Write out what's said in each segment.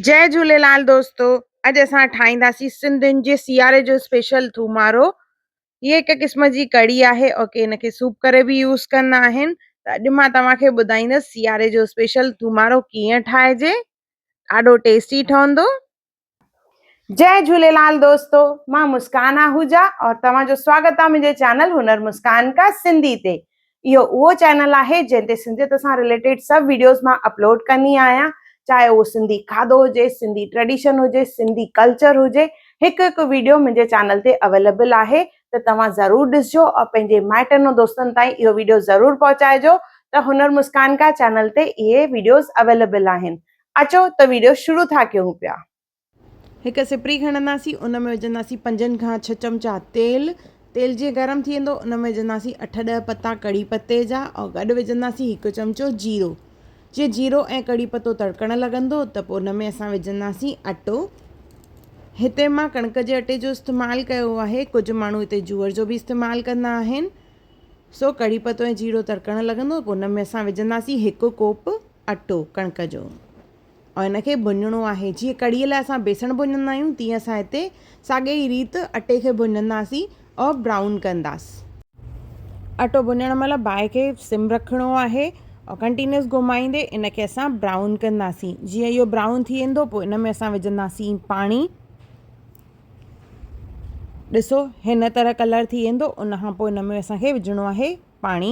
جئي جهوليلال دوستو اڄ اسان ٺاهينداسين سنڌين جي سياري جو اسپيشل ٿومارو هي هڪ قسم جي ڪڙي آهي او ڪي ان کي سوپ ڪري به يوز ڪندا آهن ته اڄ مان توهان کي ٻڌائيندس سياري جو اسپيشل ٿومارو ڪيئن ٺاهجي ڏاڍو ٽيسٽي ٺهندو جئي جهوليلال دوستو مان مسڪان آهوجا اور توهان جو سواگت آهي منهنجي چينل هنر مسڪان کا سنڌي تي اهو اهو چينل آهي جنهن تي سنڌيت سان رليٽيڊ سڀ ويڊيوز مان اپلوڊ ڪندي آهيان چاهي اهو سنڌي کاڌو هجي سنڌي ٽريڊيشن هجي سنڌي ڪلچر هجي هڪ هڪ ويڊيو منهنجي چينل تي اويليبل آهي ته توهان ضرور ڏسجو ۽ پنهنجي مائٽن ۽ دوستن تائين اهو ويڊيو ضرور پهچائجو ته هنر مسڪان کا چينل تي اهي ويڊيوز اويليبل آهن اچو ته ويڊيو شروع ٿا ڪيون پيا هڪ سپري کڻنداسين ان ۾ وجهنداسين پنجن کان ڇهه چمچا تيل تيل جيئن گرم ٿي ويندو ان ۾ وجهنداسين اٺ ڏهه پتا ڪڙي پتي جا ۽ گڏ وجهنداسين هڪ چمچو جيرو جيئن جيرو ۽ ڪڙي پتو تڙڪڻ لڳندو ته پوء ان ۾ اسان وجهنداسين اٽو هتي مان ڪڻڪ جي اٽي جو استعمال ڪيو آهي ڪجهه ماڻهو هتي جوئر جو به استعمال ڪندا آهن سو ڪڙي پتو ۽ جيرو تڙڪڻ لڳندو پوء ان ۾ اسان وجهنداسين هڪ ڪوپ اٽو ڪڻڪ جو ۽ ان کي ڀڃڻو آهي جيئن ڪڙهيء لاء اسان بيسڻ ڀڃندا آهيون تيئن اسان هتي ساڳي ئي ريت اٽي کي ڀڃنداسين ۽ برائون ڪنداس. اٽو ڀڃڻ مهل باهه کي سم رکڻو آهي ۽ ڪنٽينيوس گهمائيندي ان کي اسان برائون ڪنداسين جيئن اهو برائون ٿي ويندو پوء ان ۾ اسان وجهنداسين پاڻي ڏسو هن طرح ڪلر ٿي ويندو ان کان پوء ان ۾ اسان کي وجهڻو آهي پاڻي.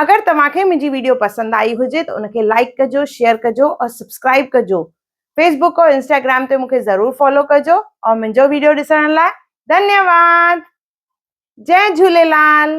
اگر توهان کي منهنجي ويڊيو پسند آئي هجي ته ان کي لائڪ ڪجو شيئر ڪجو اور سبسڪرائب ڪجو فيسبوڪ اور انسٽاگرام تي مونکي ضرور فالو ڪجو اور منهنجو ويڊيو ڏسڻ لاء ڌنيواد جئ جهوليلال